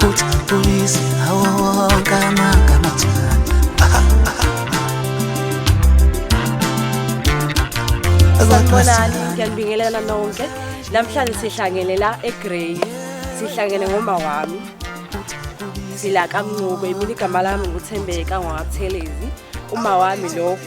Put police, oh, come on, come on. Sanibonani, ngiyanibingelela nonke. Namhlanje sihlangene la eGrey. Sihlangene ngomba wami. Sila kaMncube, mina igama lami nguThembeka ngwaKuthelezi. Uma wami lokho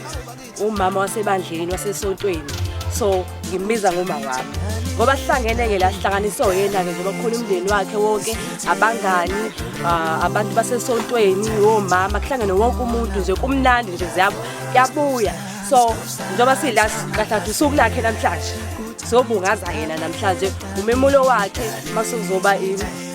umama wasebandleni wasesontweni so ngimbiza ngoma wami ngoba sihlangene-ke la sihlanganiswe yena-ke ngoba kukhona umndeni wakhe wonke abangani ah, abantu basesontweni omama kuhlangene wonke umuntu nje kumnandi nje ziyabo kuyabuya so njengoba sila kathathu usuku lakhe namhlanje sobungaza yena namhlanje umemulo wakhe masukuzoba